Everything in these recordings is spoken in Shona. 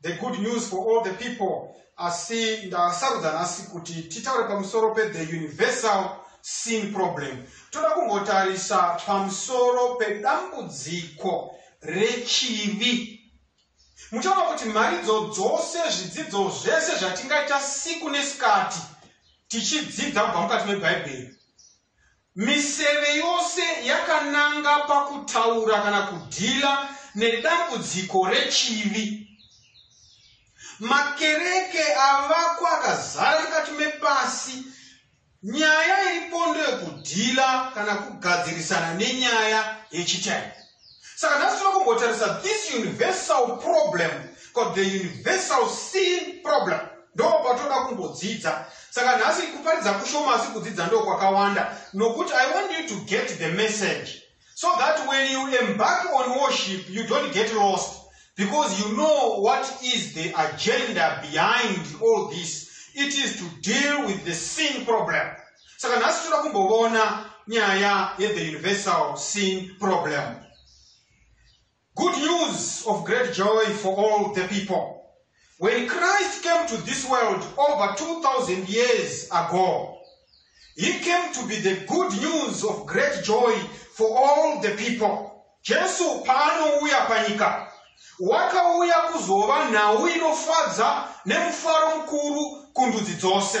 The good news for all the people asi ndasarudza nhasi kuti titaure pamusoro pethe universal sin problem toda kumbotarisa pamusoro pedambudziko rechivi muchaona kuti mharidzo dzose zvidzidzo zvese zvatingaita siku nesikati tichidzidza kubva mukati mebhaibheri Miseve yose yakananga pakutaura kana kudhila nedambudziko rechivi. Makereke avakwa akazara mukati mepasi. Nyaya iripo ndeyokudhila kana kugadzirisana nenyaya yechitaipi. saka nhasi tinoda kumbotarisa this universal problem called the universal sin problem ndo patoda kumbodzidza saka nhasi kuparidza kushoma asi kudzidza ndo kwakawanda nokuti i want you to get the message so that when you embark on worship you don't get lost because you know what is the agenda behind all this it is to deal with the sin problem saka nhasi toda kumbovona nyaya yethe universal sin problem good news of great joy for all the people when christ came to this world over 2000 years ago he came to be the good news of great joy for all the people jesu paanouya panyika wakauya kuzova nhau inofadza nemufaro mukuru kundudzi dzose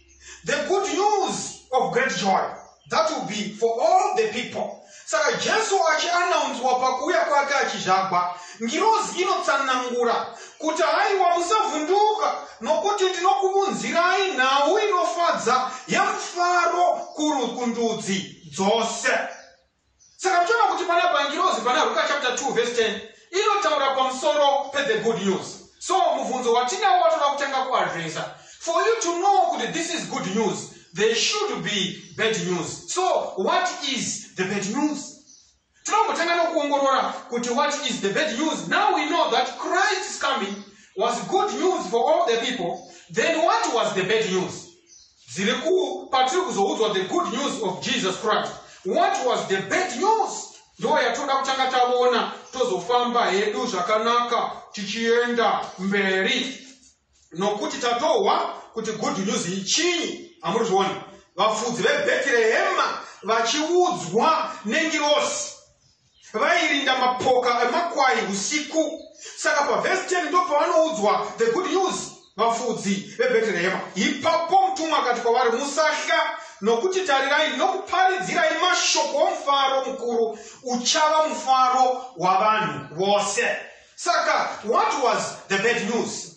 the good news of great joy that will be for all the people saka jesu achianaunzwa pakuuya kwake achizvagwa ngirozi inotsanangura kuti haiwa musavhunduka nokuti ndinokuvunzirai nhau inofadza yemufaro kuru kundudzi dzose Saka toona kuti panapa ngirozi pana Ruka chapter 2 verse 10 inotaura pamusoro pe the good news. So mubvunzo watinawo watoda kutanga ku addressa. For you to know kuti this is good news, there should be bad news. So what is the bad news? Tinongotanga nokuongorora kuti what is the bad news? Now we know that Christ's coming was good news for all the people. Then what was the bad news? Dziri ku patiri kuzoudzwa the good news of Jesus Christ. What was the bad news? Ndiyo yatoda kutanga tavona tozofamba hedu zvakanaka tichienda mberi nokuti tatohwa kuti good news ichinyi amuri zviona vafudzi vebhetirehema vachiudzwa nengirosi vairinda mapoka emakwai usiku saka pavhesi 10 ndo pavanoudzwa the good news vafudzi vebheterehema ipapo mutumwa akati kwavari musahla nokuti tarirai ndinokuparidzirai mashoko omufaro mukuru uchava mufaro wavanhu vose saka what was the bad news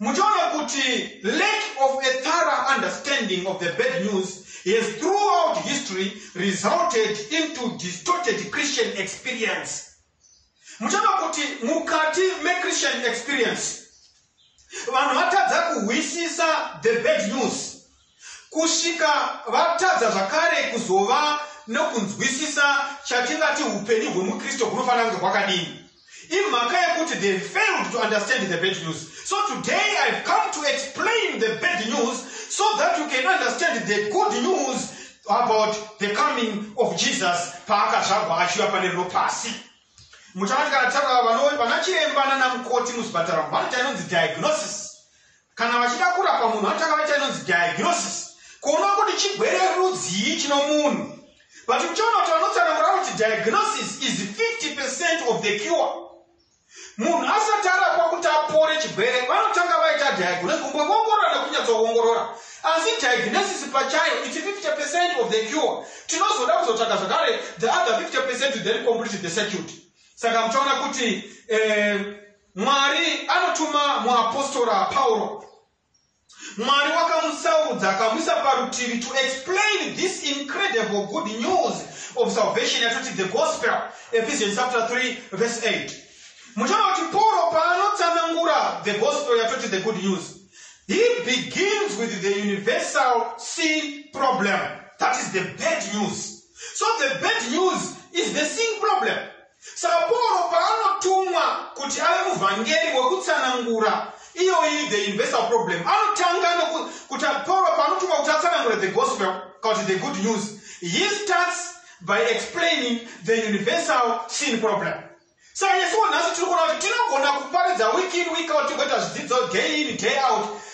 muchaona kuti lack of a thorough understanding of the bad news has throughout history resulted into distorted christian experience muchaona kuti mukati mechristian experience vanhu vatadza kuhwisisa the bad news Kusvika vatadza zvakare kuzova nokunzwisisa chatingati upenyu hwemuKristu hunofanira kunge hwakadini. Imhaka yekuti they failed to understand the bad news. So today I've come to explain the bad news so that you can understand the good news about the coming of Jesus paakazvagwa achiuya pane rino pasi. Muchakati kana tava vanachiremba nanamukoti muzvipatara vanoti anonzi diagnosis. Kana vachida kurapa munhu vanotanga vaita inonzi diagnosis kuona kuti chigwere rudzii chino munhu but uchaona kuti vanotsanangura kuti diagnosis is 50 percent of the cure munhu asati arapwa kuti apore chigwere vanotanga vaita diagnosis kumboongorora nekunyatsoongorora asi diagnosis pachayo its 50 percent of the cure tinozoda kuzotsvaga zvakare the other 50 percent then complete the circuit saka muchaona kuti eh, Mwari anotuma muapostora Pauro. Mwari wakamusaurudza akamuisa parutivi to explain this incredible good news of salvation yatoti the gospel Ephesians chapter 3 verse 8. Muchaona kuti Pauro paanotsanangura the gospel yatoti the good news he begins with the universal sin problem that is the bad news. So the bad news is the sin problem. Saka Pauro paanotumwa kuti ave muvhangeri wekutsanangura iyoyi the universal problem anotanga nokuti Pauro paanotumwa kuti atsanangure the gospel kana kuti the good news he starts by explaining the universal sin problem saka nesuwo nhasi tiri kuona kuti tinogona kuparidza week in week out tigoita zvidzidzo day in day out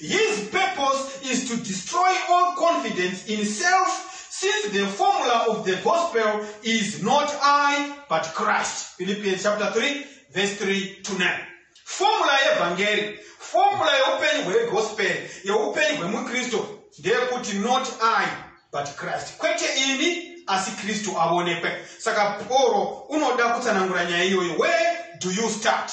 His purpose is to destroy all confidence in self since the formula of the gospel is not I but Christ. Philippians chapter 3 verse 3 to 9. Formula yevhangeri, formula yeupenyu hwegospel, yeupenyu hwemukristu ndeyekuti not I but Christ. Kwete ini asi kristu avonekwe saka poro unoda kutsanangura nyaya iyoyo where do you start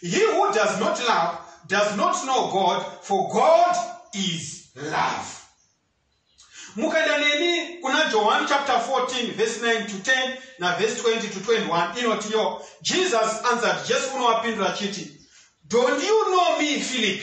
He who does not love does not know God, for God is love. Mukaenda neni kuna Johani chapter 14 verse 9 to 10 na verse 20 to 21 inoti yo Jesus answered Jesu unovapindura chiti Don't you know me Philip?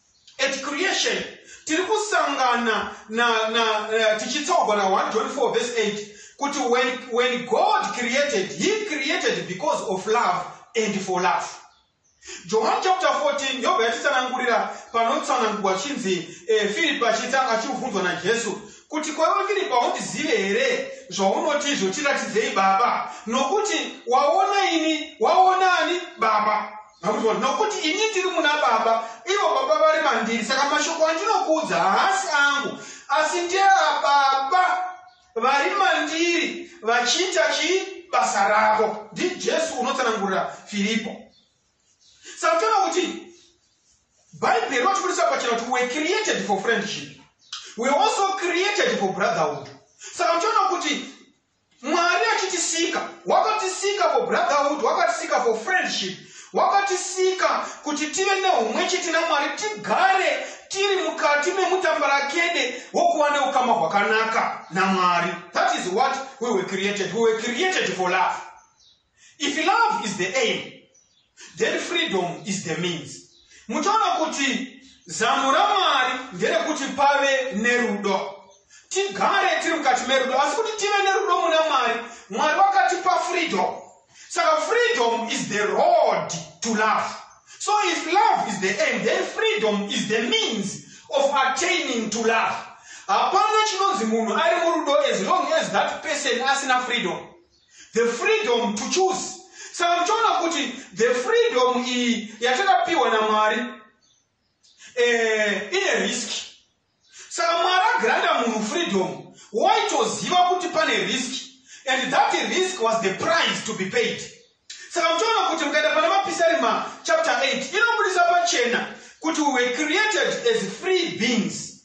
At creation tiri kusangana na, na uh, tichitsaugwa na 1 john 4 verse 8 kuti when, when god created he created because of love and for love johani chapter 14 yobva yatitsanangurira panotsanangurwa chinzi eh, firipi achitanga achibvunzwa najesu kuti kwaiwe firipi haundizive here zvaunoti izvo tiratidzei baba nokuti waona ini waona ani baba Makunzwa, nokuti ini ndiri muna Baba, ivo Baba vari mandiri, saka mashoko andinokuudza haasi angu, asi ndeaBaba vari mandiri, vachiita chii basa ravo. NdiJesu unotsanangurira Firipo. Saka toona kuti Bhaibheri rinotibudisa pachena kuti we're created for friendship. We're also created for brotherhood. Saka toona kuti Mwari achitisika, wakatisika for brotherhood, wakatisika for friendship, wakatisika kuti tive neumwe chete naMwari, tigare tiri mukati memutambarakede wokuva neukama hwakanaka naMwari. That is what we were created. We were created for love. If love is the aim, then freedom is the means. Muchaona kuti zano raMwari nderekuti pave nerudo. Tigare tiri mukati merudo, asi kuti tive nerudo muna Mwari, Mwari wakatipa freedom. Saka freedom is the road to love. So if love is the aim, then freedom is the means of attaining to love. Hapana chinonzi munhu ari murudo as long as that person asina freedom. The freedom to choose. Saka muchiona kuti the freedom iyi yatakapiwa naMwari eh, ine risk. Saka Mwari agranda munhu freedom waitoziva kuti pane risk and that risk was the price to be paid. Saka muchiona kuti mukaenda pana Mapisarima chapter 8 inobudisa pachena kuti we were created as free beings.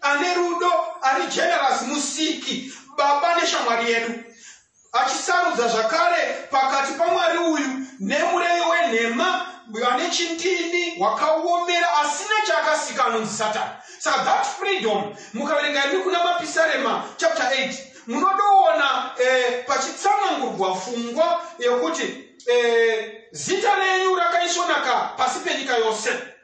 ane rudo ari generous musiki baba neshamwari yedu achisarudza zvakare pakati pamwari uyu nemurevi wenhema ane chindini wakaomera asina chaakasika anonzi satani saka that freedom mukaverenga imi kuna mapisarema chapter 8 munodoona eh, pachitsanangurwa fungwa yekuti eh, zita renyu rakaisvonaka pasi penyika yose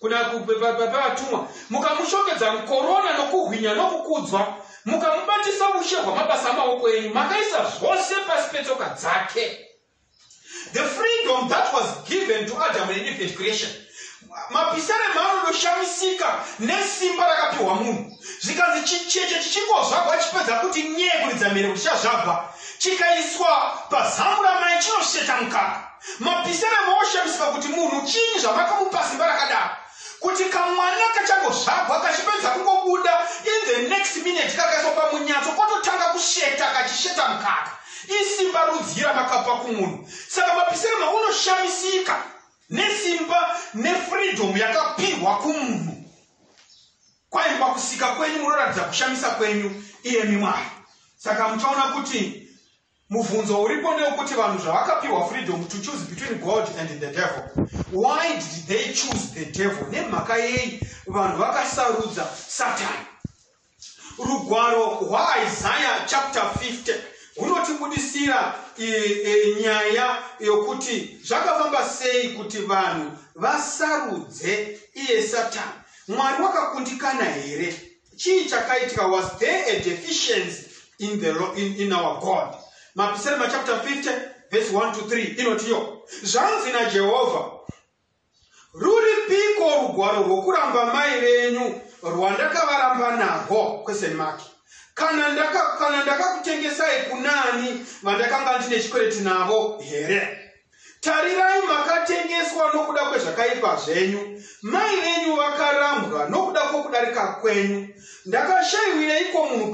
kuna vatumwa mukamushongedza mukorona nokuhwinya nokukudzwa mukamubatisa ushe hwamabasa amaoko enyu makaisa zvose pasi petsoka dzake the freedom that was given to adam and eve at creation mapisare mano ndoshamisika nesimba rakapiwa munhu zvikanzi chicheche chichingozvagwa chipedza kuti nyee kuridza mhere kuchazvagwa chikaiswa pazamu ramai chinosheta mukaka Mapisa vamwe voshamisika kuti munhu chii zvamakamupa simba rakadaro kuti kamwana kachangozvagwa kachipedza kungobuda in the next minute kakaiswa pamunyatso kototanga kusheta kachisheta mukaka isimba rudzii ramakapa kumunhu saka mapisirema unoshamisika nesimba nefreedom yakapihwa kumunhu kwaini pakusika kwenyu munoratidza kushamisa kwenyu iyemi mwari saka muchaona kuti Mubvunzo uripo ndewekuti vanhu zvavakapiwa freedom to choose between God and the devil. Why did they choose the devil? Nemhaka yei vanhu vakasarudza Satani? Rugwaro rwaIsaiah chapter 50 hunotibudisira e, e, nyaya yokuti zvakafamba sei kuti vanhu vasarudze iye Satani. Mwari wakakundikana here? Chii chakaitika was there a deficiency in the law, in, in our God? Mapisarema chapter 50 verse 1 to 3 inotiyo zvanzi naJehovha ruripiko rugwaro rwokuramba mai venyu rwandakavaramba narwo question mark kana ndakakutengesai ndaka kunaani vandakanga ndine chikwereti navo here Tarirai, makatengeswa nokuda kwezvakaipa zvenyu, mai venyu vakarambwa nokuda kwokudarika kwenyu. Ndakashayiwireiko munhu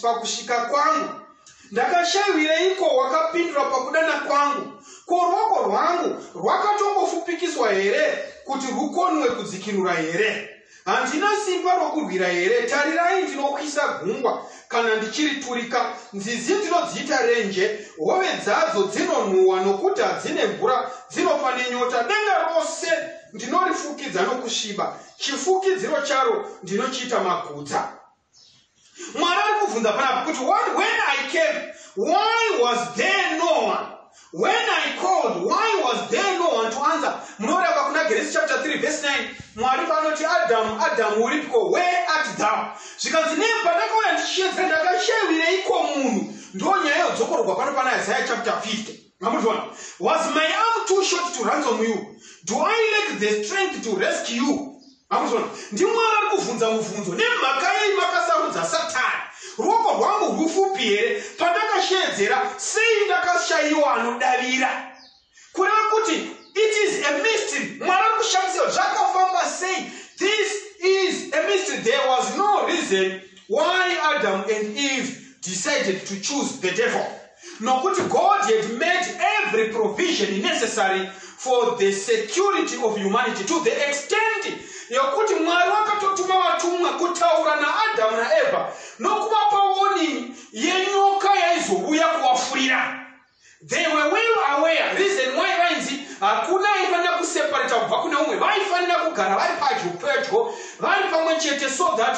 pakusvika kwangu? Ndakashayiwireiko wakapindura pakudana kwangu? Ko ruoko rwangu rwakatongofupikiswa here kuti rwukonwe kudzikinura here? Handina simba rokurwira here? Tarirai, ndinokwisa gungwa kana ndichiriturika, nzizi ndinodziita renje, hove dzadzo dzinonhuhwa nokuti hadzine mvura, dzinofa nenyota. Denga rose ndinorifukidza nokusviba, chifukidziro charo ndinochiita magutsa. mwari ari kubvunza panapa kuti what when i came why was there no one when i called why was there no one to answer munovereka kuna geresi chapter 3 verse 9 mwari vanoti adamu adamu uripiko where at thou zvikanzi ne pandakauya ndichiyedza ndakashavireiko munhu ndo nyaya yodzokorwa pano pana isaya chapter 50 mamutona was my arm too short to ransom you do i lack the strength to rescue you Makuzviona? NdiMwari ari kuvhunza muvhunzo. Nemhaka yei makasarudza Satani? Ruoko rwangu rwufupi here? Pandakasheedzera, sei ndakashaiwa anodavira? Kureva kuti it is a mystery. Mwari ari kushandisa zvakafamba sei? This is a mystery. There was no reason why Adam and Eve decided to choose the devil. nokuti god had made every provision necessary for the security of humanity to the extent yokuti mwari wakatotuma vatumwa kutaura naadhamu naevha nokuvapa warning yenyoka yaizouya kuvafurira they were well aware reason why vainzi hakuna aifanira kuseparata kubva kune umwe vaifanira kugara vari padyo pedyo vari pamwe chete so that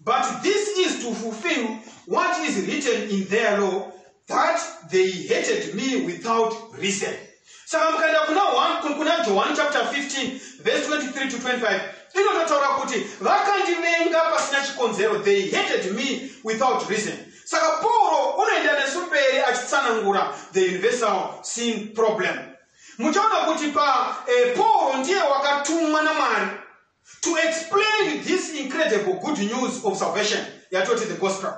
But this is to fulfill what is written in their law that they hated me without reason. Saka mukaenda kuna 1 kuna John chapter 15 verse 23 to 25 inototaura kuti vakandivenga pasina chikonzero they hated me without reason. Saka Paul unoenda nesu mberi achitsanangura the universal sin problem. Muchaona kuti pa eh, Paul ndiye wakatumwa naMwari to explain this incredible good news of salvation yatoti the gospel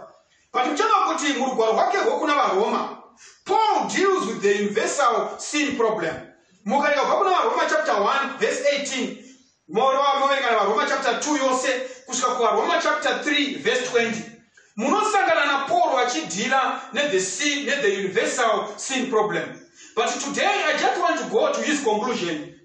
but muchava kuti murugwaro rwake rwokuna varoma paul deals with the universal sin problem mukareka kubva kuna varoma chapter 1 verse 18 moverekana varoma chapter 2 yose kusvika kuvaroma chapter 3 verse 20 munosangana napaul vachidhira nethe sin nethe universal sin problem but today i just want to go to his conclusion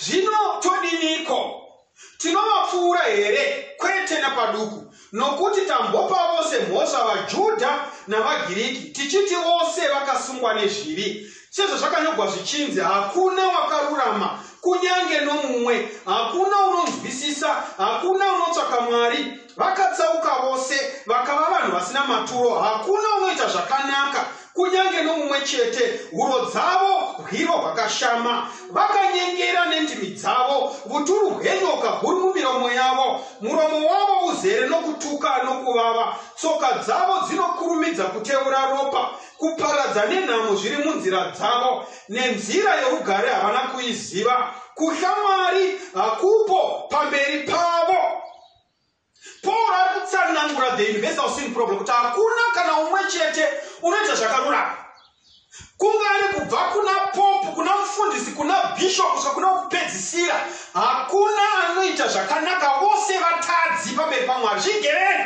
Zvino todiniko? Tinovapfuura here? Kwete napaduku! Nokuti tambopa vose mhosva, vaJudha navaGiriki, tichiti vose vakasungwa nezvivi. Sezvazvakanyogwa zvichinzi, Hakuna wakarurama, kunyange nomumwe, hakuna unonzwisisa, hakuna unotsvaka Mwari. Vakatsauka vose, vakava vanhu vasina maturo, hakuna unoita zvakanaka, kunyange nomumwe chete, huro dzavo hwiro hwakashama. Vakanyengera nendimi dzavo, vuturu hwenyoka huri mumiromo yavo. Muromo wavo uzere nokutuka nokuvava, tsoka dzavo dzinokurumidza kutevura ropa. Kuparadza nenhamo zviri munzira dzavo, nenzira yorugare havana kuiziva. Kutya Mwari hakupo pamberi pavo. Paul ari kutsanangura the universal sin problem kuti hakuna kana umwe chete unoita zvakarurama kunga ari kubva kuna popu kuna mufundisi kuna bishop kusvika kuna kupedzisira hakuna anoita zvakanaka vose vatadzi pamberi pamwari zvigereni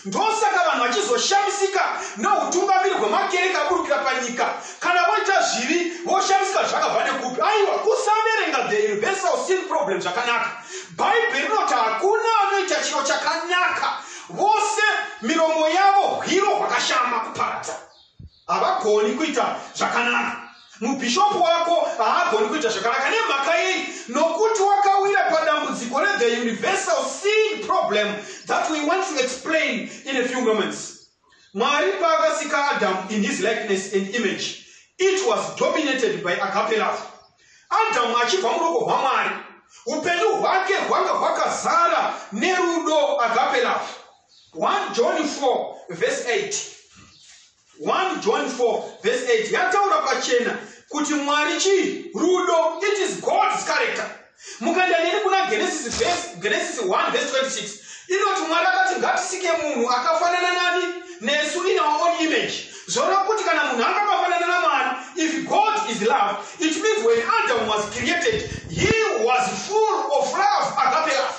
Ndosaka vanhu vachizoshamisika neutungamiri hwemakereke aburukira panyika. Kana voita zvivi, voshamisika zvakabva nekupi. Aiwa, kusaverenga The Universal Sin Problem zvakanaka. Bhaibheri rinoti hakuna anoita chiro chakanaka, vose miromo yavo hwiro hwakashama kuparadza. havagoni kuita zvakanaka mubhishopu wako haagoni kuita zvakanaka nemhaka yei nokuti wakawira padambudziko rethe universal sin problem that we want to explain in a few moments mwari paakasika adamu in his likeness and image it was dominated by agape love adamu achibva muruoko rwamwari upenyu hwake hwanga hwakazara nerudo agape love 1 John 4 verse 8 1 John 4 verse 8 yataura pachena kuti mwari chii rudo it is god's character mukaenda neni kuna genesis verse, genesis 1 verse 26 inoti mwari akati ngatisike munhu akafanana nani nesu in our own image zvoreva kuti kana munhu anga akafanana namwari if god is love it means when adam was created he was full of love agape love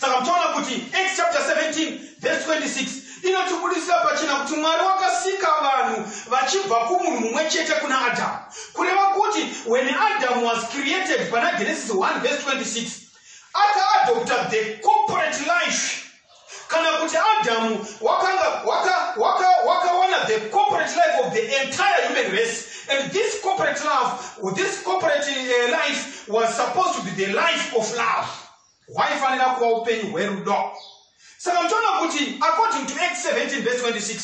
saka muchaona kuti acts chapter 17 verse 26 inotibudisira pachena kuti mwari wakasika vanhu vachibva kumunhu mumwe chete kuna adamu kureva kuti when adam was created pana genesis 1 verse 26 akaadopta the corporate life kana kuti adamu wakawana waka, waka, waka the corporate life of the entire human race and this corporate love this corporate uh, life was supposed to be the life of love hwaifanira kuva upenyu hwerudo saka mtoona kuti according to act 17 vese 26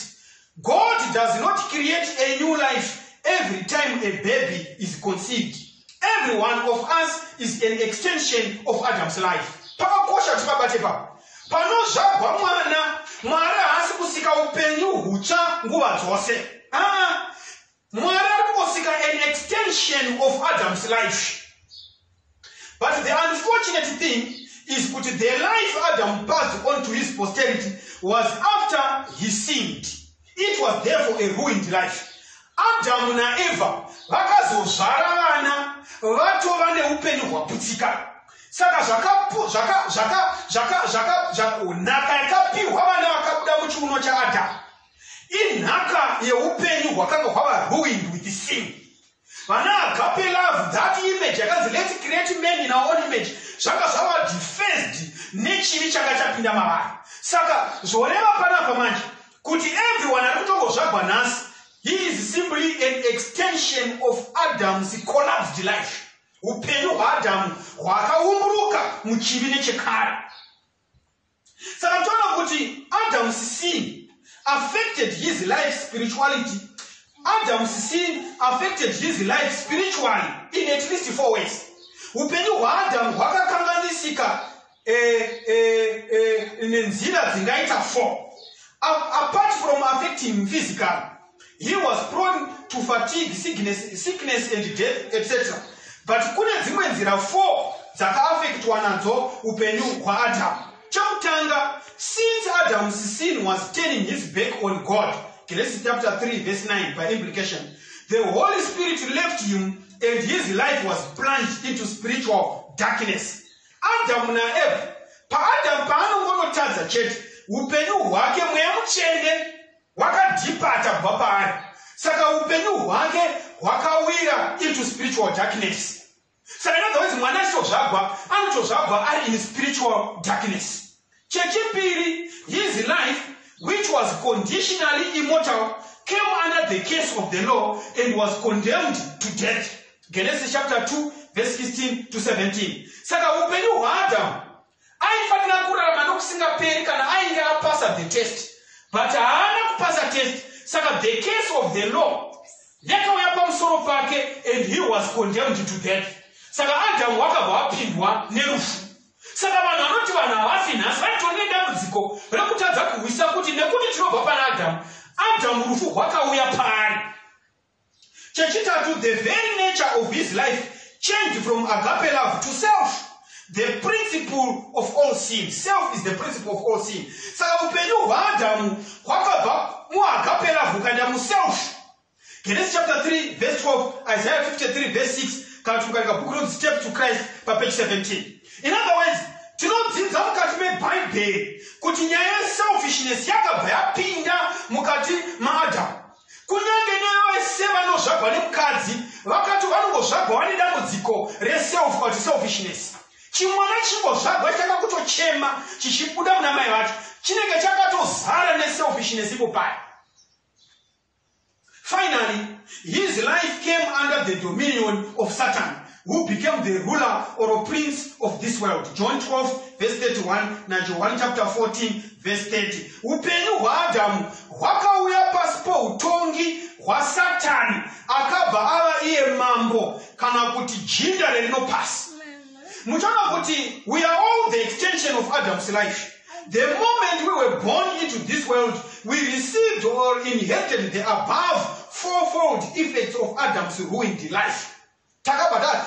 god does not create a new life every time a baby is conceived every one of us is an extension of adam's life pakakosha kuti pabate papa panozvagwa mwana mwari haasi kusika upenyu hutsva nguva dzose aa ah, Mwari ari kungosika an extension of Adam's life. But the unfortunate thing is kuti the life Adam passed on to his posterity was after he sinned. It was therefore a ruined life. Adam na Eva vakazozvara vana vatova neupenyu hwaputsika. Saka zvakapo zvaka zvaka zvaka zvaka zvakonaka yakapiwa vana vakabuda muchiuno chaAdam. inhaka yeupenyu hwakanga hwava ruined with sin vana agape love that image yakanzi lets create man in our own image zvanga zvava defaced nechivi changa chapinda mavari saka zvoreva panapa manje kuti everyone ari kutongozvagwa nhasi he is simply an extension of adam's collapsed life upenyu hwaadhamu hwakaumburuka muchivi nechekare saka toona kuti adams sin affected his life spirituality adams sin affected his life spiritually in at least four ways upenyu hwaadamu hwakakanganisika eh, eh, eh, nenzira dzingaita four apart from affecting physical He was prone to fatigue, sickness, sickness and death, etc. But kune dzimwe nzira four dzakaafektwa nadzo upenyu hwaAdamu. Chekutanga, since Adam's sin was turning his back on God, Genesis chapter 3 verse 9 by implication, the Holy Spirit left him and his life was plunged into spiritual darkness. Adamu naEva, paAdamu paanongonotadza chete, upenyu hwake mweya mutsvene wakadhipata kubva paari saka upenyu hwake hwakawira into spiritual darkness saka inodhakuti mwana achitozvagwa anotozvagwa ari in spiritual darkness chechipiri his life which was conditionally immortal came under the case of the law and was condemned to death genesis chapter 2 verse 16 to 17 saka upenyu hwaadamu Aifanira kurarama nokusingaperi kana ainge apasa the test but haana kupasa test saka the case of the law yakauya pamusoro pake and he was condemned to death saka adhamu wakabva apindwa nerufu saka vanhu vanoti vanhu havafi nhasi vaitori nedambudziko rekutadza kuhwisa kuti nekuti tinobva pana adhamu adhamu rufu rwakauya paari Chechitatu, the very nature of his life changed from agape love to self. The principle of all sin. Self is the principle of all sin. Saka upenyu hwaAdhamu hwakabva muagape love ukaenda muself. Genesis chapter 3 verse 12, Isaiah 53 verse 6, kana kuti mukaringa bhuku rinonzi Step to Christ papage 17. In other words, tinodzidza mukati mebhaibheri kuti nyaya yeselfishness yakabva yapinda mukati maadhamu Kunyange nevese vanozvagwa nemukadzi vakati vanongozvagwa vane dambudziko reself kana kuti selfishness. Chimwana chingozvagwa chitanga kutochema chichibuda muna mai vacho chinenge chakatozara neselfishness ipo paya. Finally, his life came under the dominion of Satan. who became the ruler or prince of this world john 12 vese 31 najohani chapter 14 vese 30 upenyu hwaadhamu hwakauya pasi poutongi hwasatani akabva ava iye mambo kana kuti jinda rerino pasi muchaona kuti we are all the extension of adam's life the moment we were born into this world we received or inherited the above fourfold effects of adam's ruined life Takabhadhara.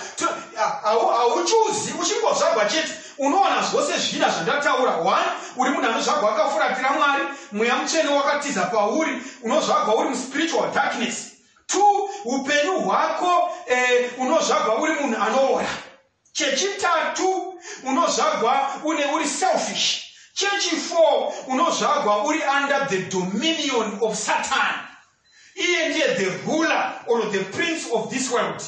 Hauchuzi uchingozvagwa chete. Unowana zvose zvina zvandataura. One, uri munhu anozvagwa akafuratira Mwari. Mweya mutsvene wakatiza pauri. Unozvagwa uri muspiritual darkness. Two, upenyu hwako eh, unozvagwa uri munhu anoora. Chechitatu, unozvagwa une uri selfish. Chechifour, unozvagwa uri under the dominion of Satan. Iye ndiye the ruler or the prince of this world.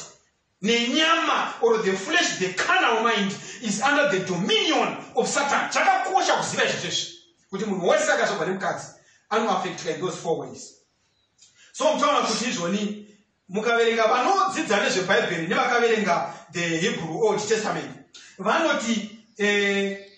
Nenyama or the flesh, the carnal mind is under the dominion of Satan. Chakakosha kuziva izvi zveshe kuti munhu wese akazvagwa nemukadzi anoaffectika in those four ways. So mutaona kuti izvoni mukaverenga vanodzidza nezvebhaibheri nevakaverenga the hebrew old testament vanoti eh,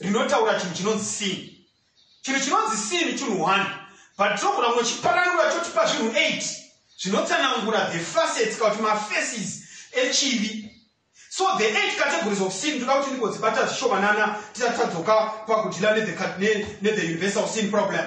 rinotaura chinhu chinonzi sini chinhu chinonzi sini chinhu one but tinogona kunochiparanura chotipa zvinhu eight zvinotsanangura the facets kana kuti mafaces echivi so the eight categories of sin toda kuti ndigodzibata zvishomanana tisati tadzoka pakudhila nethe universal sin problem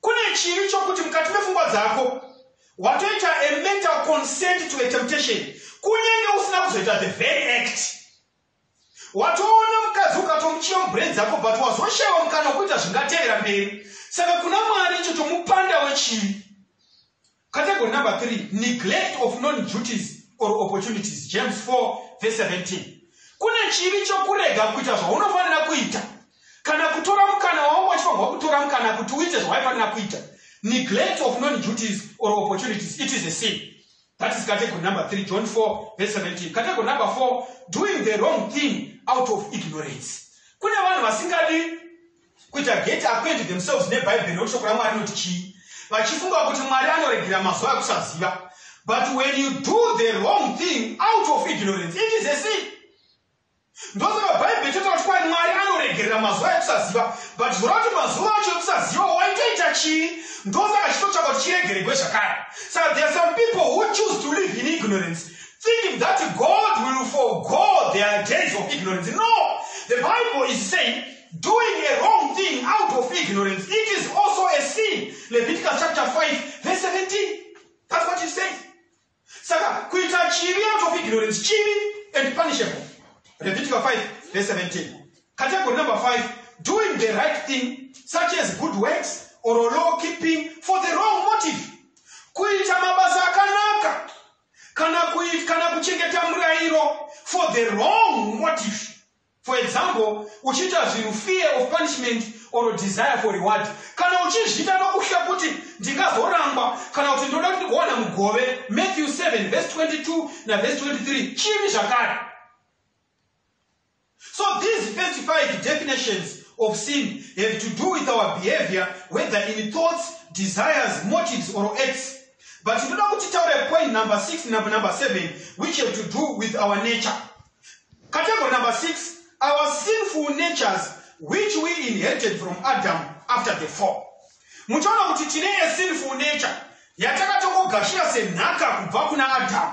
Kune chivi chokuti mukati mefungwa dzako watoita a mental consent to a temptation kunyange usina kuzoita the very act. Watoona mukadzi ukatomuchiva mubrain dzako but wazoshaiwa mukana wekuita zvingatevera mberi. Saka kuna Mwari icho chomupanda wechivi. Category number 3, neglect of known duties or opportunities, James 4 verse 17. Kune chivi chokurega kuita zvaunofanira kuita kana kutora mukana wawanga wachifanirwa kutora mukana kuti uite zvawaifanira kuita. Neglect of known duties or opportunities, it is a sin. That is category number 3, John 4 verse 17. Category number 4, doing the wrong thing out of ignorance. Kune vanhu vasingadi Kuita gate hakuendi themselves nebhaibheri nokuti shoko raMwari rinoti chii? Vachifunga kuti Mwari anoregera mazuva ekusaziva. But when you do the wrong thing out of ignorance, it is a sin. Ndosaka bhaibheri chotaura kuti kwai Mwari anoregerera mazuva ekusaziva. But zvoreva kuti mazuva acho ekusaziva waitoita chii? Ndosaka chitotsvaka kuti chiregeregwe zvakare. Saka there are some people who choose to live in ignorance thinking that God will forgo their days of ignorance. No! The Bible is saying Doing a wrong thing out of ignorance, it is also a sin. Leviticus chapter 5, verse 17. That's what it says. Saka, kuita chivi out of ignorance, chivi and punishable. Leviticus 5, verse 17. Category number 5, doing the right thing, such as good works or law keeping for the wrong motive. Kuita mabasa akanaka, kana, kuchengeta murairo for the wrong motive. For example, uchiita zvinhu fear of punishment or desire for reward. Kana uchizviita nokutya kuti ndingazorangwa kana kuti ndoda kuti ndigowana mugove, Matthew 7 verse 22 na verse 23, chivi zvakare. So these first five definitions of sin have to do with our behavior, whether in thoughts, desires, motives, or acts. But you know, point number six, number, number seven, which have to do with our nature. Category number six, our sinful natures which we inherited from Adam after the fall. Muchaona kuti tine a sinful nature yatakatongogashira senhaka kubva kuna Adam.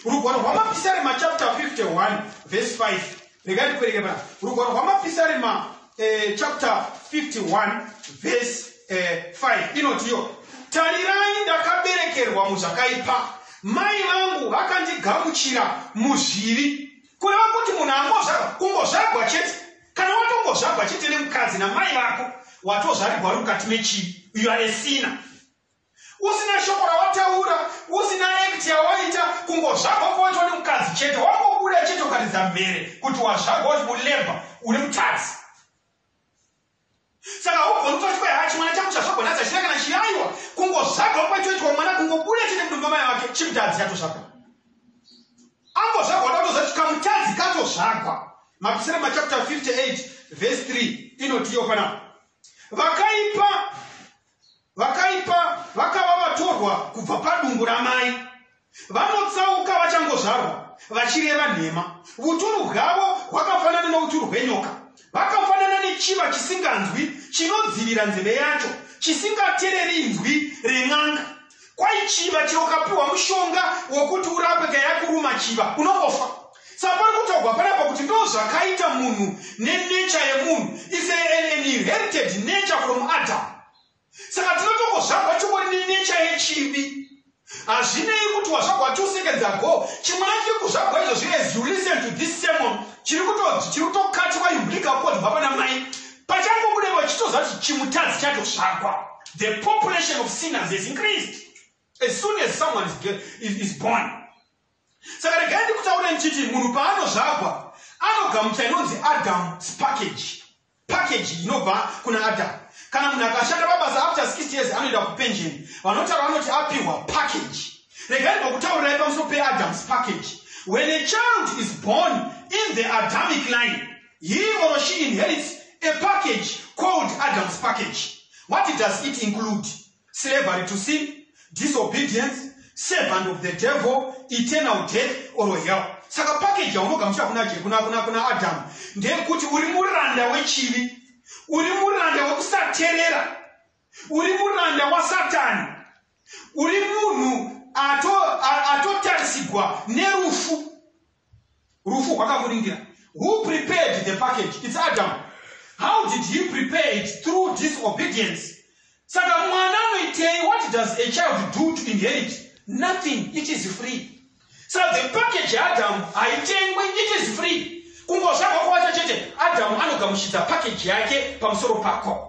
Rugwaro rwamapisarema chapter 51 verse 5. Regai ndikuverenge pana. Rugwaro rwamapisarema eh, chapter 51 verse 5 inotiwo, Tarirai, ndakaberekerwa muzvakaipa, mai vangu vakandigamuchira muzvivi. Kureva kuti munhu angozvarwa, kungozvarwa chete. Kana watongozvarwa chete nemukadzi namai vako, watozvarirwa uri mukati mechivi. You are a sinner. Usina shoko rawataura, usina act yawaita, kungozvarwa kwawaitwa nemukadzi chete, wangobuda chete ukaridza mhere kuti wazvarwa uri mulebha, uri mutadzi. saka haugoni kutoti kwai haa chimwana changu chazvagonadza china kana chiyaiwa kungozvagwa kwachoitwa mwana kungobuda chete mudumba mai vake chimutadzi chatozvagwa angozvagwa ndakutozati kamutadzi katozvagwa mapisira machapter 58 vhesi 3 inotiyo panapa vakaipa Vakaipa vakava vatorwa kubva padumbu ramai. Vanotsauka vachangozvarwa, vachireva nhema. Vuturu bwavo hwakafanana novuturu hwenyoka. Vakafanana nechiva chisinganzwi, chinodzivira nzeve yacho, chisingatereri inzwi ren'anga. Kwai chiva chero ukapiwa mushonga wekuti urape ka yakuruma chiva unongofa. Saka pari kutaurwa panapa kuti ndozvakaita munhu nenature yemunhu is a, an, an inherited nature from Adam. Saka tinotongozvagwa chingori nenature yechivi hazvinei kuti wazvagwa two seconds ago chimwana chiri kuzvagwa izvozvi as you listen to this sermon chiri kutokatiwa imhurika kodwa pana mai Pachangobuda ipapo chitoziva kuti chimutadzi chatotsvagwa. The population of sinners has increased as soon as someone is, is, is born. Saka regai ndikutaure ndichiti munhu paanozvagwa anogamucha inonzi Adam's package. Package inobva kuna Adam. Kana munhu akashanda pabasa after 60 years anoenda kupension. Vanotaura vanoti apihwa package. Regai ndokutaurirai pamusoro peAdam's package. When a child is born in the Adamic line, He or she inherits a package called Adam's package. What does it include? Slavery to sin, disobedience, servant of the devil, eternal death or hell. Saka package yaunogamuchira kuna kuna kuna kuna Adam ndeyekuti uri muranda wechivi, uri muranda wekusaterera uri muranda wasatani uri munhu atotarisigwa ato nerufu rufu rwakakuringira who prepared the package its adam how did he prepare it through disobedience saka mwana anoitei what does a child do to inherit nothing it is free so the package yaadam haitengwe it is free kungozvagwa kwawacha chete adam anogamuchidza package yake pamusoro pako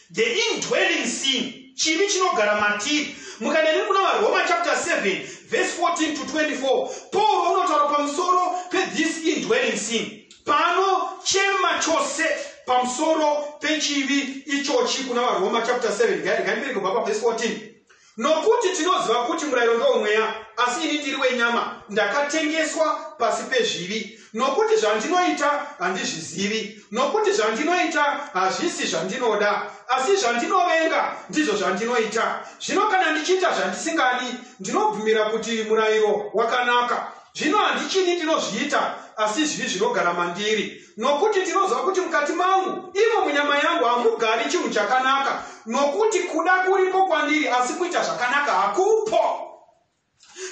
The indwelling sin, chivi chinogara matiri. Mukanene kuna vaRoma chapter 7 verse 14 to 24, Paul unotaura pamusoro pethis indwelling sin. Paanochema chose pamusoro pechivi ichochi kuna vaRoma chapter 7, ngandibere kubva paverse 14. Nokuti tinoziva kuti murayiro ndowoMweya, asi ini ndiri wenyama, ndakatengeswa pasi pezvivi. Nokuti zvandinoita handizvizivi, nokuti zvandinoita hazvisi zvandinoda, asi zvandinovenga ndizvo zvandinoita. Zvino kana ndichiita zvandisingadi, ndinobvumira kuti murayiro wakanaka. Zvino handichini ndinozviita, asi zvivi zvinogara mandiri. Nokuti ndinoziva kuti mukati mangu, imo munyama yangu, hamugari chinhu chakanaka, nokuti kuda kuripo kwandiri, asi kuita zvakanaka hakupo.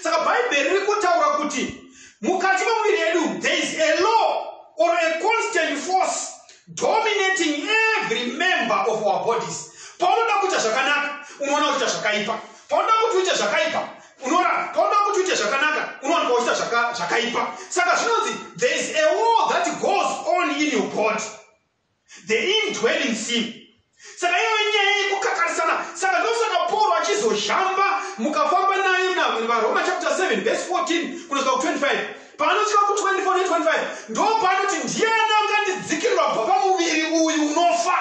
Saka Bhaibheri riri kutaura kuti mukati memuviri yedu there is a law or a constant force dominating every member of our bodies paunoda kuita zvakanaka unoona kuita zvakaipa paunoda kuti uite zvakaipa unoramba kauda kuti uite zvakanaka unowanikwa uchita zvakaipa saka zvinonzi there is a war that goes on in your body the indwelling sin saka iyo nyaya yekukakarisana saka ndosaka pauro achizozhamba mukafamba naye varoma chapter 7 verse 14 kunosvika ku25 paanosvika ku24 ne25 ndo paanoti ndiani angandidzikirirwa bva pamuviri uyu unofa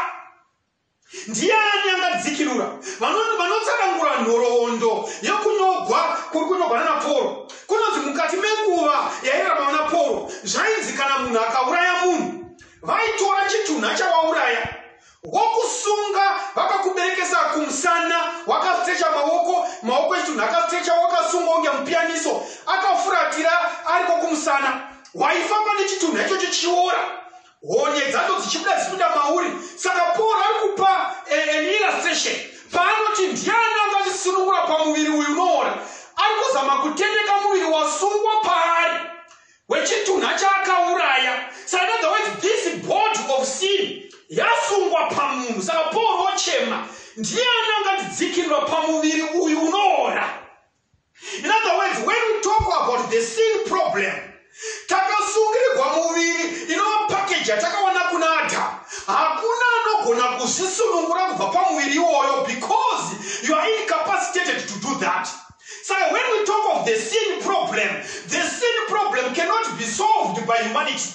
Ndiani angadzikirura vano- vanotsanangura nhoroondo yokunyogwa kuri kunyogwa nana Pauro? Kunonzi mukati menguva yairarama vana Pauro, zvainzi kana munhu akauraya munhu, vaitora chitunha chawauraya wokusunga vakakuberekesa kumusana, wakastrecha maoko, maoko echitunha akastrecha, wakasungwa kunge mupiyaniso, akafuratira ariko kumusana, waifamba nechitunha ichocho chichiora. honye dzacho dzichibuda dzichipinda mauri saka paul ari kupa eh, an illustration paanoti ndiani anga achisunungura pamuviri uyu unoona ari kuzama kutendeka muviri wasungwa paari wechitunha chaakauraya sainother words this body of sin yasungwa pamunhu saka paul ochema ndiani anga tidzikirwa pamuviri uyu unoora In other words, when we talk about the sin problem, takasungirigwa muviri inova pakeji yatakawana kuna adhamu hakuna anogona kuzvisunungura kubva pamuviri iwoyo because you are incapacitated to do that so when we talk of the sin problem the sin problem cannot be solved by humanity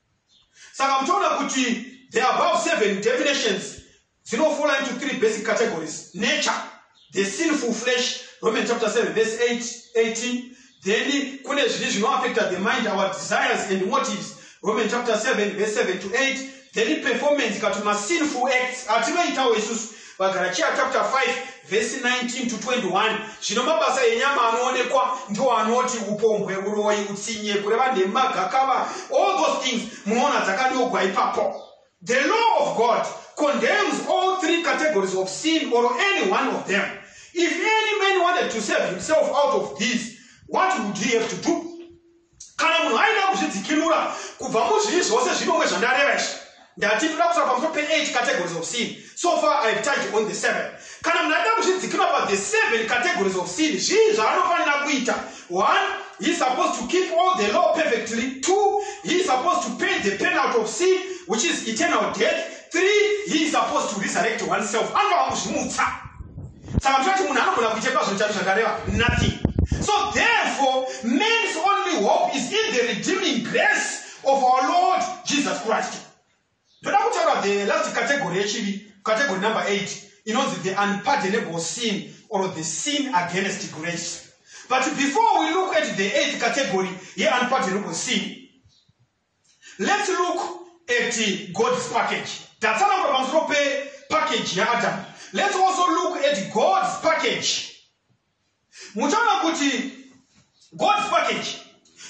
saka muchaona kuti the above seven definitions dzinofola into three basic categories nature the sinful flesh roman chapter 7 verse 8 18 then kune zviri zvinoaffecta the mind our desires and motives roman chapter 7 verse 7 to 8 then performance kati masinful acts atinoitawo isusu vagaratia chapter 5 vhesi 19 to 21 zvino mabasa enyama anoonekwa ndiwo anoti upombwe uroyi utsinye kureva nhema gakava all those things munoona dzakadogwa ipapo the law of god condemns all three categories of sin or any one of them if any man wanted to save himself out of these what would he have to do Kana munhu aida kuzvidzikinura kubva muzvii zvose zvinomwe zvandareva izvi ndati ndoda kutaura pamusoro pe8 categories of sin so far i have touched on the 7 kana munhu aida kuzvidzikinura pa the 7 categories of sin zvii zvaanofanira kuita 1 he is supposed to keep all the law perfectly 2 he is supposed to pay the penalty of sin which is eternal death 3 he is supposed to resurrect oneself anoa kuzvimutsa Saka muchati munhu anogona kuchekwa zvinhu chaizvo zvakareva nothing. So therefore man's only hope is in the redeeming grace of our Lord Jesus Christ. Ndoda kutaura the last category yechivi, category number 8 inonzi the unpardonable sin or the sin against grace. But before we look at the eighth category ye unpardonable sin, Let's look at God's package. Tatsanangura pamusoro pepackage yaAdam. Let's also look at God's package. Muchaona kuti God's package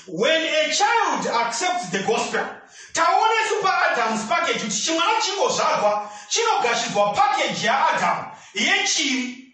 when a child accepts the gospel taona isu paadams package kuti chimwana chingozvarwa chinogashidzwa package yaadam yechivi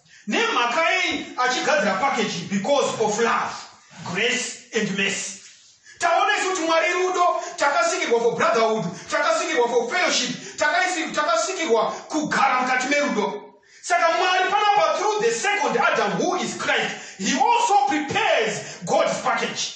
nemhaka yei achigadzira package because of love grace and mercy taona isu kuti mwari rudo takasikirwa for brotherhood takasikirwa for fellowship takasikirwa kugara mukati merudo saka mwari panapa through the second adam who is christ he also prepares god's package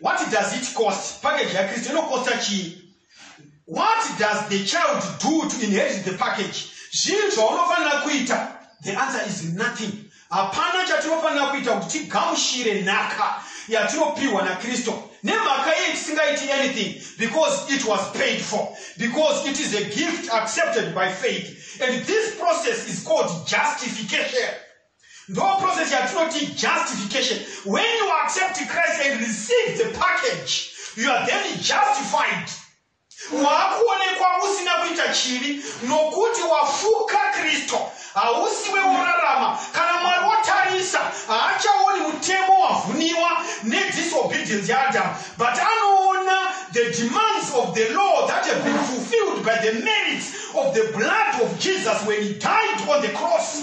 what does it cost package yakristu inokosta chii what does the child do to inherit the package zvinhu zvaunofanira kuita the answer is nothing hapana chatinofanira kuita kuti tigamushire nhaka yatinopiwa nakristu nemhaka yei tisingaiti anything because it was paid for because it is a gift accepted by faith and this process is called justification Ndo process yatinoti justification. When you accept Christ and receive the package, you are then justified. Wakuonekwa usina kuita chivi nokuti wafuka Kristo. Hausiwe worarama kana Mwari wotarisa haachaoni mutemo wavhuniwa nedisobedience yaAdam but anoona the demands of the law that have been fulfilled by the merits of the blood of Jesus when he died on the cross.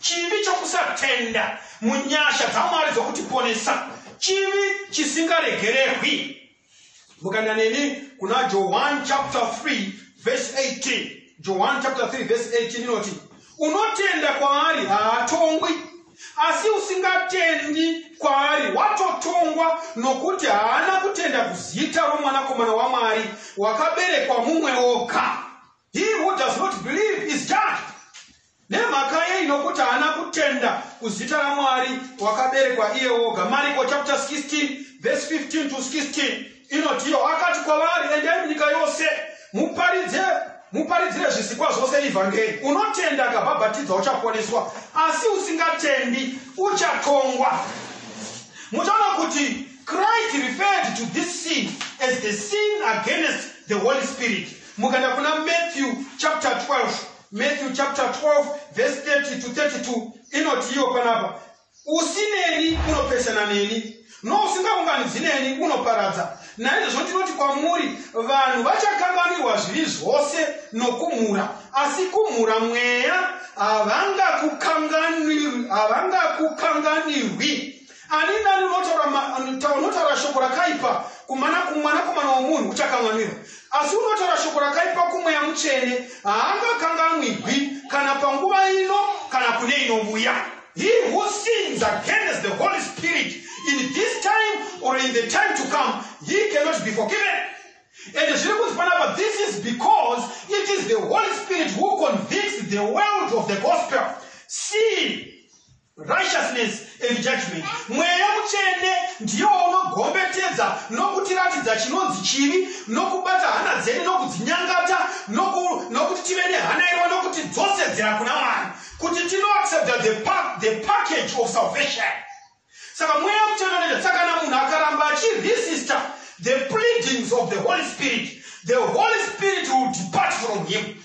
Chivi chokusatenda munyasha dzaMwari dzokutiponesa chivi chisingaregererwi. Mukaenda neni kuna Johani chapter 3 verse 18. Johani chapter 3 verse 18 inoti, unotenda kwaari haatongwi, asi usingatendi kwaari watotongwa, nokuti haana kutenda kuzita romwanakomana waMwari wakaberekwa mumwe oga. He who does not believe is judged. Nemhaka yei? Nokuti haana kutenda kuzita raMwari wakaberekwa iye woga. Mariko chapter 16 verse 15 to 16 inotiwo, akati kwavari, endai munyika yose muparidze muparidzire zvisikwa zvose ivhangeri. Unotenda akabhabhatidza uchaponeswa, asi usingatendi uchatongwa. Muchaona kuti Christ referred to this sin as the sin against the Holy Spirit. Mukaenda kuna Matthew chapter 12 Matthew chapter 12 verse 30 to 32 inoti iyo panapa usineni unopesana neni nousingaunganidzi neni unoparadza naizvozvo ndinoti kwamuri vanhu vachakanganwirwa zvivi zvose nokumhura asi kumhura mweya havangakukanganirwi Ani nani unotaura ma- unotaura unotaura shoko rakaipa kumana- kumwanakomana womunhu uchakanganwirwa asi unotaura shoko rakaipa kumweya mutsvene haangakanganwigwi kana panguva ino kana kune inouya he who sins against the holy spirit in this time or in the time to come he cannot be forgiven and zviri kunzi panapa this is because it is the holy spirit who convicts the world of the gospel sin righteousness and judgment mweya mutsvene ndiye waunogombetetsa nokutiratidza chinonzi chivi nokubata hana dzedu nokudzinyangata nokuti tive nehana irwa nokuti dzosedzera kuna mwari kuti tinoaccepta the, pa, the package of salvation saka mweya mutsvene unoita saka kana munhu akaramba achiresista the pleadings of the holy spirit the holy spirit will depart from him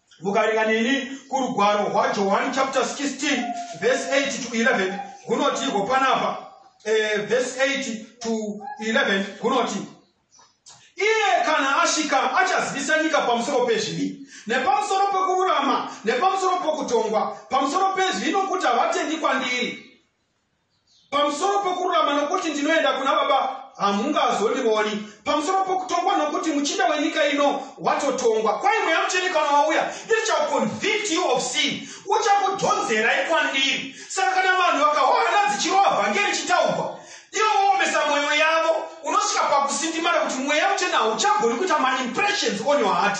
mukaringa neni kurugwaro rwajohani chapter 16 verse 8 to 11 kunoti iko panapa eh, verse 8 to 11 kunoti iye kana asvika achazivisa nyika pamusoro pezvivi nepamusoro pekururama nepamusoro pokutongwa pamusoro pezvivi nokuti havatendi kwandiri pamusoro pokururama nokuti ndinoenda kuna baba hamungazondioni pamusoro pokutongwa nokuti muchinda wenyika ino watotongwa kwai mweya mutsvene kana wauya ichaconvict you of sin uchakudhonzerai kwandiri saka kana vanhu vakahwahana dzichirova vhangeri ichitaugwa ivo voomesa mwoyo yavo unosvika pakusindimara kuti mweya mutsvene hauchagoni kuita maimpressions on your heart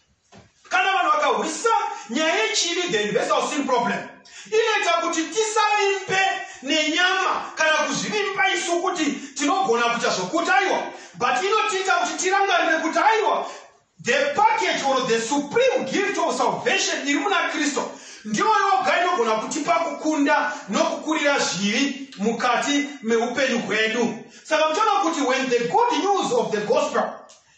kana vanhu vakahwisa nyaya yechivi the universal sin problem inoita kuti tisavimbe nenyama kana kuzvivimba isu kuti tinogona kuita zvokuti aiwa but inotiita kuti tirangarire kuti aiwa the package or the supreme gift of salvation iri muna kristu ndiyo yoga inogona kutipa kukunda nokukurira zvivi mukati meupenyu hwedu saka muchaona kuti when the good news of the gospel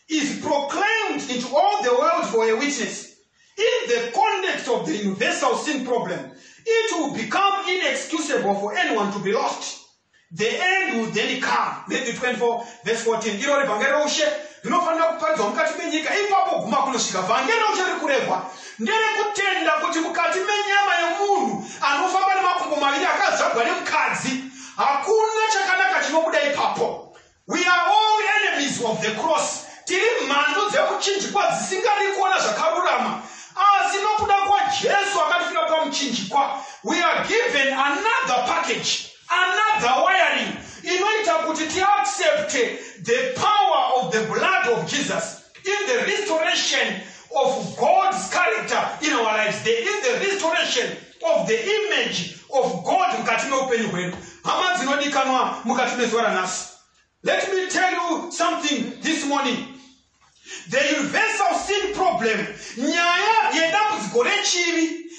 is proclaimed into all the world for a witness in the context of the universal sin problem it will become inexcusable for anyone to be lost the end will then come matthew 24 verse 14 iro revhangeri roushe rinofanira kuparidzwa mukati menyika ipapo guma kunosvika vhangeri roushe riri kurehwa nderekutenda kuti mukati menyama yemunhu anofamba nemakumbo maviri akazvagwa nemukadzi hakuna chakanaka chinobuda ipapo We are all enemies of the cross. Tiri mhandu dzekuchinjikwa dzisingadi kuona zvakarurama. Asi nokuda kwaJesu akatifira pamuchinjikwa, we are given another package, another wiring inoita kuti tiaccepte the power of the blood of Jesus. In the restoration of God's character in our lives, there is the restoration of the image of God mukati meupenyu hwedu. Hama dzinodikanwa mukati mezuva ranhasi. Let me tell you something this morning. The universal sin problem, nyaya yedambudziko rechivi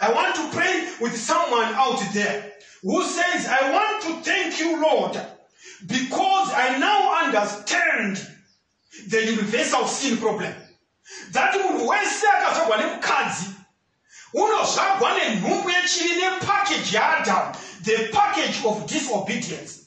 I want to pray with someone out there who says, I want to thank you, Lord, because I now understand the universal sin problem. That munhu wese akazvagwa nemukadzi unozvagwa nenhumbu yechivi nepackage yaadam the package of disobedience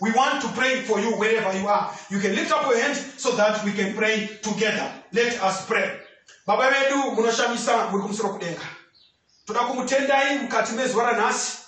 We want to pray for you wherever you are. You can lift up your hands so that we can pray together. Let us pray. Baba vedu munoshamisa muri kumusoro kudenga. Toda kumutendai mukati mezuva ranhasi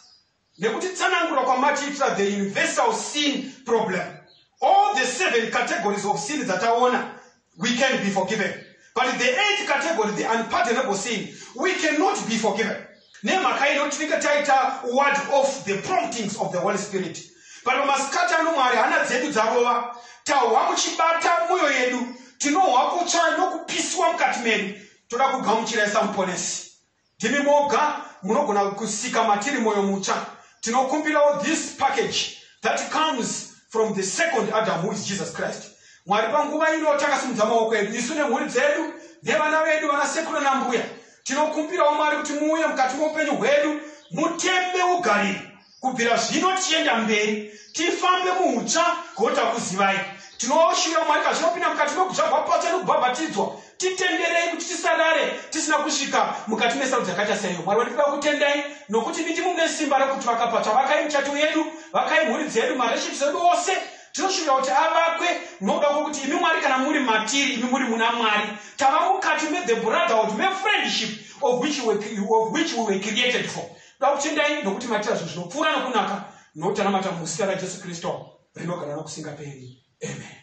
nekuti tsanangura kwamatiitira the universal sin problem. All the seven categories of sin dzataona we can be forgiven but the eighth category the unpardonable sin we cannot be forgiven nemhaka ino tinenge taita word of the promptings of the holy spirit but pamasikati ano mwari hana dzedu dzarova tahwa muchibata mwoyo yedu tinohwa kutsva nokupisiwa mukati medu toda kugamuchira isamuponesi Ndimi moga munogona kusika matiri moyo mutsva. Tinokumbirawo this package that comes from the second Adam who is Jesus Christ. Mwari panguva ino takasimudza maoko edu isu nemhuri dzedu nevana vedu vana sekuru nambuya. Tinokumbirawo Mwari kuti muuye mukati moupenyu hwedu mutembe ugariri. kubvira zvino tichienda mberi tifambe muutsva gota kuzivai tinoshura mwari kazvinopinda mukati mekutsva kwapatsva nekubhabhatidzwa titenderei kuti tisarare tisina kusvika mukati mesarudzo yakaita saiyo mwari vandipiwa kutendai nokuti nditi mune simba rekuti vakapatsva vakai muchato yedu vakai mhuri dzedu mareshipsi edu ose tinoshuvira kuti avakwe nokuda kwokuti imi mwari kana muri matiri imi muri muna mwari tava mukati methe brotherhood mefriendship of which we were created for Tinoda kutendai nokuti maita zvinhu zvinopfuura nokunaka nokuti tanamata muzita raJesu Kristu rinogara nokusingaperi. Amen.